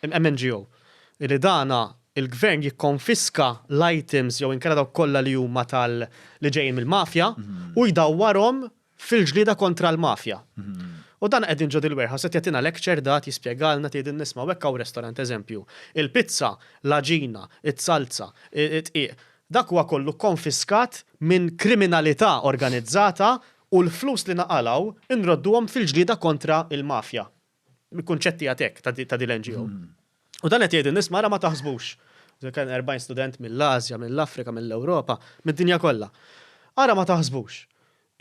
MNGO, li dan il-Gvern jikkonfiska l-items jew inkella dawk kollha li huma tal-, li ġejjin mill-mafja, u jdawwarhom fil-ġlieda kontra l-mafja. U dan qegħdin ġo dil-warehouse qed jagħtina lecture dat jispjegalna tgħidin nisma' u hekk hawn restorant eżempju, il-pizza, l-għaġina, is-salza, id-dqiq, dak huwa kollu kkonfiskat minn kriminalità organizzata u l-flus li naqalgħu nrodduhom fil-ġlieda kontra l-mafja. mill-kunċetti għatek ta' din l-NGO. U dan qed jgħidu nies mara ma taħsbux. Kien 40 student mill-Asja, mill-Afrika, mill-Ewropa, mid-dinja kollha. Ara ma taħsbux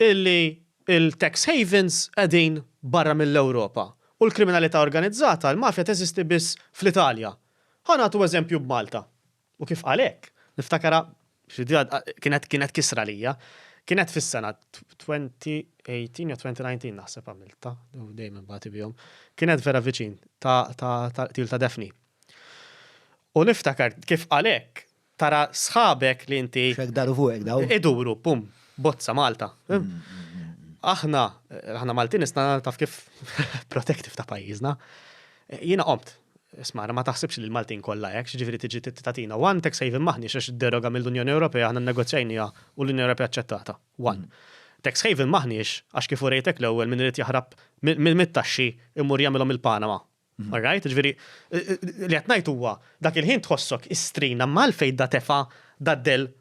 illi il-tax havens qegħdin barra mill-Ewropa u l-kriminalità organizzata, l-mafja teżisti biss fl-Italja. Ħa nagħtu eżempju b'Malta. U kif qal hekk, niftakarha, kienet kienet kisra għalija. Kienet fis-sena 2018 jew 2019 naħseb għamiltha, dejjem inbati bihom. Kienet vera viċin ta' qtil ta' Daphne. U niftakar kif qal hekk, tara sħabek li inti. X'hekk daru fuqek dawn. Iduru, pum, bozza Malta. Aħna, aħna Maltin isna taf kif protective ta' pajjiżna. Jiena qomt. Isma', ma taħsibx li l-Maltin kollha hekk, x'jiġifieri tiġi tagħtina one tax haven m'aħniex għax id-deroga mill-Unjoni Ewropea aħna nnegozjajniha u l-Unjoni Ewropea aċċettatha. One. Tax haven m'aħniex għax kif urejtek l-ewwel min irid jaħrab mit-taxxi imur jagħmilhom il-Panama. All right? Jiġifieri li qed ngħid huwa dak il-ħin tħossok istrina imma għalfejn da tefa' da dell